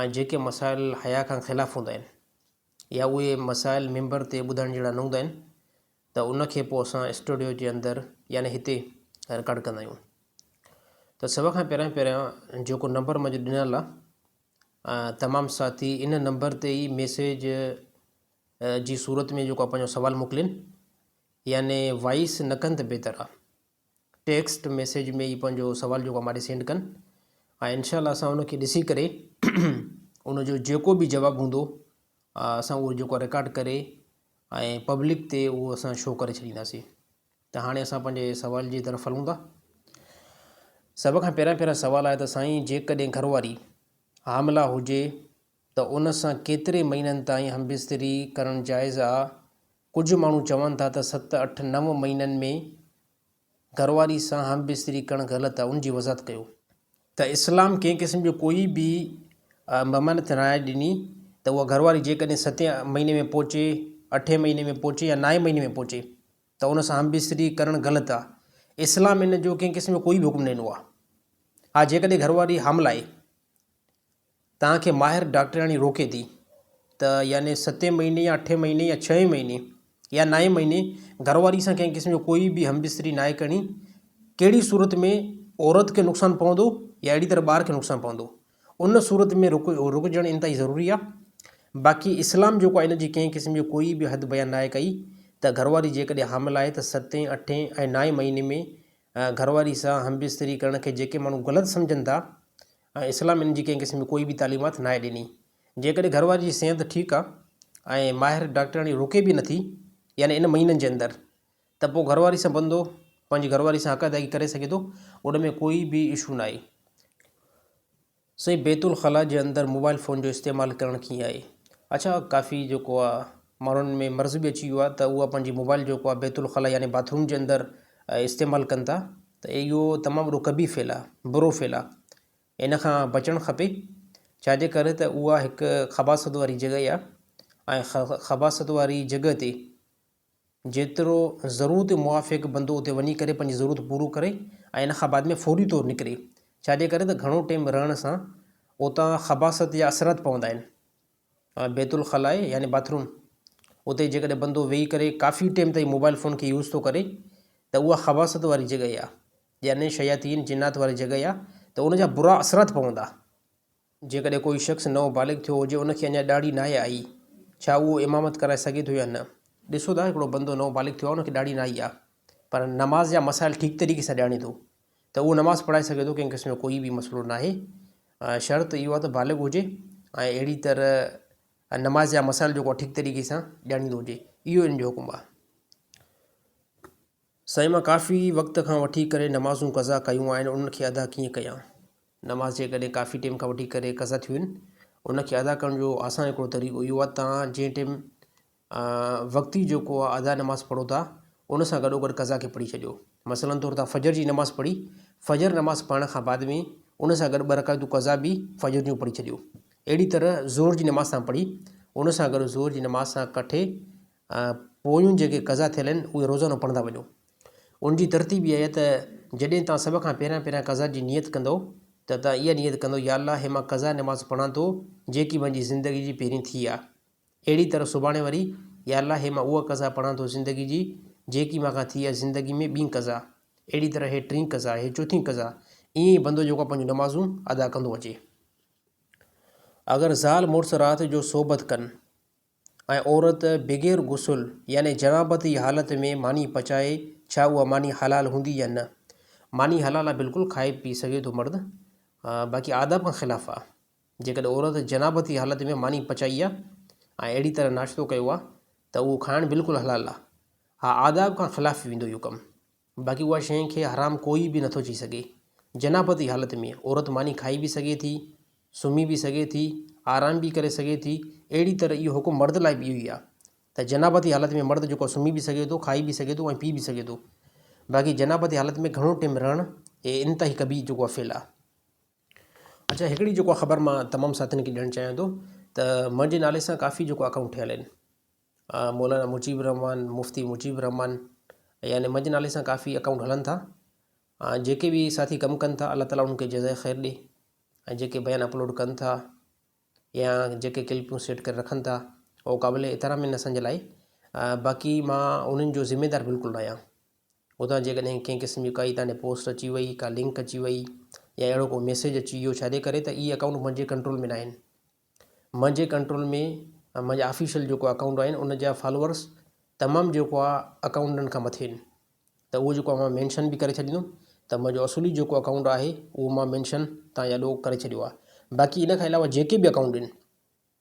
۽ جيڪي مسائل حيا کان خلاف هوندا آهن يا اهي مسائل ممبر تي ٻڌائڻ جهڙا نه هوندا آهن ته ان کي پوء اسان اسٽوڊيو جي اندر يعني هتي رڪارڊ ڪندا آهيون ته سڀ کان پهريان پهريان جيڪو نمبر منهنجو ڏنل آ تمام ساٿي ان نمبر تي ئي ميسيج جي صورت ۾ جيڪو پنهنجو سوال موڪلين يعني وائس نه ڪن ته بهتر آ ٽيڪسٽ ميسيج ۾ ئي پنهنجو سوال جيڪو ماڏي سينڊ ڪن ۽ انشاء الله اسان ان کي ڏسي ڪري ان جو جيڪو به جواب هوندو اسان اهو جيڪو رڪارڊ ڪري ۽ پبلڪ تي اهو اسان شو ڪري ڇڏينداسين ته هاڻي اسان پنهنجي سوال جي طرف هلون ٿا سڀ کان پهريان پهريان سوال آهي ته سائين جيڪڏهن گهرواري حاملا هجي ته ان سان ڪيتري مهينن تائين همبستري ڪرڻ جائز آ ڪجهه ماڻهو چون ٿا ته ست، اٺ، نو مهينن ۾ گهرواري سان همبستري ڪرڻ غلط آهي، ان جي وضاحت ڪيو. ته اسلام ڪنهن قسم جو ڪوئي به ممانعت ناهي ڏني ته اها گهرواري جيڪڏهن ستين مهيني ۾ پهچي، اٺين مهيني ۾ پهچي يا نائين مهيني ۾ پهچي ته ان سان همبستري ڪرڻ غلط آهي، اسلام ان جو ڪنهن قسم جو ڪوئي به حڪم نه ڏنو آهي. ها جيڪڏهن گهرواري حامل آهي. توهان کي ماهر ڊاڪٽرياڻي روڪي ٿي ته يعني ستين مهيني يا اٺين مهيني يا ڇهين مهيني يا نائين مهيني گهر واري سان ڪنهن قسم جو ڪوئي به هم بستري ناهي ڪرڻي ڪهڙي صورت ۾ عورت کي نقصان پوندو يا اهڙي طرح ٻار کي نقصان پوندو ان صورت ۾ رڪ رڪجڻ انتهائي ضروري آهي باقي اسلام جيڪو آهي ان جي ڪنهن قسم جي ڪوئي به حد بيان ناهي ڪئي ته گهر واري جيڪڏهن حامل آهي ته ستين اٺين ۽ نائين مهيني ۾ گهر واري سان هم بستري ڪرڻ کي جيڪي ماڻهو غلط سمجهن ٿا ۽ اسلام ان جي ڪنهن قسم جي ڪوئي به تعليمات ناهي ڏني. جيڪڏهن گهر واري جي صحت ٺيڪ آ ۽ ماهر ڊاڪٽرياڻي روڪي به نٿي يعني ان مهينن جي اندر ته پو گهر واري سان بندو پنهنجي گهر واري سان حق ادائيگي ڪري سگهي ٿو ان ۾ ڪوئي به اشو ناهي. سائين بيت الخلا جي اندر موبائل فون جو استعمال ڪرڻ ڪيئن آهي؟ اڇا ڪافي جيڪو آ ماڻهن ۾ مرض به اچي ويو آهي ته اهو پنهنجي موبائل جيڪو آهي بيت الخلا يعني باٿ روم جي اندر استعمال ڪن ٿا ته اهو تمام وڏو قبيح فعل آهي برو فعل آهي ان کان بچڻ کپي ڇاجي ڪري ته اها هڪ خباست واري جڳهه آهي ۽ خباست واري جڳهه تي جيترو ضرورت موافق بندو اتي وڃي ڪري پنهنجي ضرورت پورو ڪري ۽ ان کان بعد ۾ فوري طور نڪري ڇاجي ڪري ته گهڻو ٽيم رهڻ سان اتان خباست جا اثرات پوندا آهن بيت الخلاء يعني باٿ روم اتي جيڪڏهن بندو ويهي ڪري ڪافي ٽيم تائين موبائل فون کي يوز ٿو ڪري ته اها خباثت واري جڳهه آ يعني شياطين جنات واري جڳهه آ ته ان جا برا اثرات پوندا جيڪڏهن ڪوئي شخص نئون بالغ ٿيو هجي ان کي اڃا ڏاڙهي ناهي آئي ڇا اهو امامت ڪرائي سگهي ٿو يا نه ڏسو ٿا هڪڙو بندو نئون بالغ ٿيو آ ان کي ڏاڙهي نه آئي آ پر نماز جا مسائل ٺيڪ طريقي سان ڄاڻي ٿو ته اهو نماز پڙهائي سگهي ٿو ڪنهن قسم جو ڪوئي به مسئلو ناهي شرط اهو آهي ته بالغ هجي ۽ اهڙي طرح نماز جا مسائل جيڪو ٺيڪ طريقي سان ڄاڻيندو هجي اهو ان جو حڪم آهي سائين مان ڪافي وقت کان وٺي ڪري نمازون قضا ڪيون آهن انهن کي ادا ڪيئن ڪيان نماز جيڪڏهن ڪافي ٽيم کان وٺي ڪري قضا ٿيون آهن انهن کي ادا ڪرڻ جو آسان هڪڙو طريقو اهو آهي تان جنهن ٽيم وقتي جيڪو ادا نماز پڙهو ٿا ان سان گڏوگڏ قضا کي پڙهي ڇڏيو مثلا طور تان فجر جي نماز پڙهي فجر نماز پڙهڻ کان بعد ۾ ان سان گڏ ٻه رڪعتون قضا به فجر جون پڙهي ڇڏيو اهڙي طرح زور جي نماز تان پڙهي ان سان گڏ زور جي نماز سان ڪٺي پويون جيڪي قضا ٿيل آهن اهي روزانو پڙهندا وڃو ان جي ترتيب اها آهي ته جڏهن تان سڀ کان پهريان پهريان قضا جي نيت ڪندو ته تان اها نيت ڪندو يا الله هي مان قضا نماز پڙهان ٿو جيڪي منهنجي زندگي جي پهرين ٿي آ اهڙي طرح سڀاڻي وري، يا الله هي مان اها قضا پڙهان ٿو زندگي جي، جيڪي مان کان ٿي آهي زندگي ۾ ٻين قضا، اهڙي طرح هي ٽين قضا، هي چوٿين قضا، ائين ئي بندو جيڪو پنهنجون نمازون ادا ڪندو اچي. اگر زال مڙس رات جو صحبت ڪن ۽ عورت بغير غسل يعني جنابت جي حالت ۾ ماني پچائي ڇا اها ماني حلال هوندي يا نه؟ ماني حلال آ بلڪل کائي پي سگهي ٿو مرد باقي آداب کان خلاف آ. جيڪڏهن عورت جنابتي حالت ۾ ماني پچائي آ ۽ اهڙي طرح ناشتو ڪيو آ ته اهو کائڻ بلڪل حلال آ. اها آداب کان خلاف ويندو اهو ڪم. باقي اها شين کي حرام ڪوئي به نٿو چئي سگهي. جنابتي حالت ۾ عورت ماني کائي به سگهي ٿي، سمهي به سگهي ٿي، آرام به ڪري سگهي ٿي، اهڙي طرح اهو حڪم مرد لاء به اهو ئي آ ته جنابتي حالت ۾ مرد جيڪو سمهي به سگهي ٿو، کائي به سگهي ٿو ۽ پي به سگهي ٿو. باقي جنابتي حالت ۾ گهڻو ٽيم رهڻ اهي انتهائي قبيح جيڪو آ فعل آ. اچا هڪڙي جيڪو آ خبر مان تمام ساٿين کي ڏيڻ چاهيان ٿو ته منهنجي نالي سان ڪافي جيڪو اڪائونٽ ٺهيل آهن مولانا مجيب الرحمان مفتي مجيب الرحمان يعني منهنجي نالي سان ڪافي اڪائونٽ هلن ٿا ۽ جيڪي به ساٿي ڪم ڪن ٿا الله تعاليٰ انهن کي جزائي خير ڏي ۽ جيڪي بيان اپلوڊ ڪن ٿا يا جيڪي ڪلپون سيٽ ڪري رکن ٿا اهو قابل احترام آهن اسان جي لاء باقي مان انهن جو ذميدار بلڪل نه آهيان اتان جيڪڏهن ڪنهن قسم جي ڪائي تانڏي پوسٽ اچي وئي ڪا لنڪ اچي وئي يا اهڙو ڪو ميسيج اچي ويو ڇاجي ڪري ته اهي اڪائونٽ منهنجي ڪنٽرول ۾ نه آهن منهنجي ڪنٽرول ۾ منهنجا آفيشل جيڪو اڪائونٽ آهن ان جا فالورس تمام جيڪو آ اڪائونٽن کان مٿي آهن ته اهو جيڪو آ مينشن به ڪري ڇڏيندم ته منهنجو اصولي جيڪو اڪائونٽ آهي اهو مان مينشن تان يا ڏو ڪري ڇڏيو آ باقي ان کان علاوه جيڪي به اڪائونٽ آهن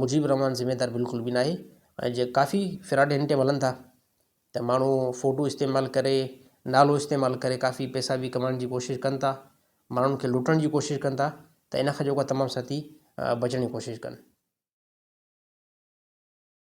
مجيب الرحمان ذميدار بلڪل به ناهي ۽ جي ڪافي فراڊ هن ٽيم هلن ٿا ته ماڻهو فوٽو استعمال ڪري نالو استعمال ڪري ڪافي پئسا به ڪمائڻ جي ڪوشش ڪن ٿا ماڻهن کي لٽڻ جي ڪوشش ڪن ٿا ته ان کان جيڪو تمام ساٿي بچڻ جي ڪوشش ڪن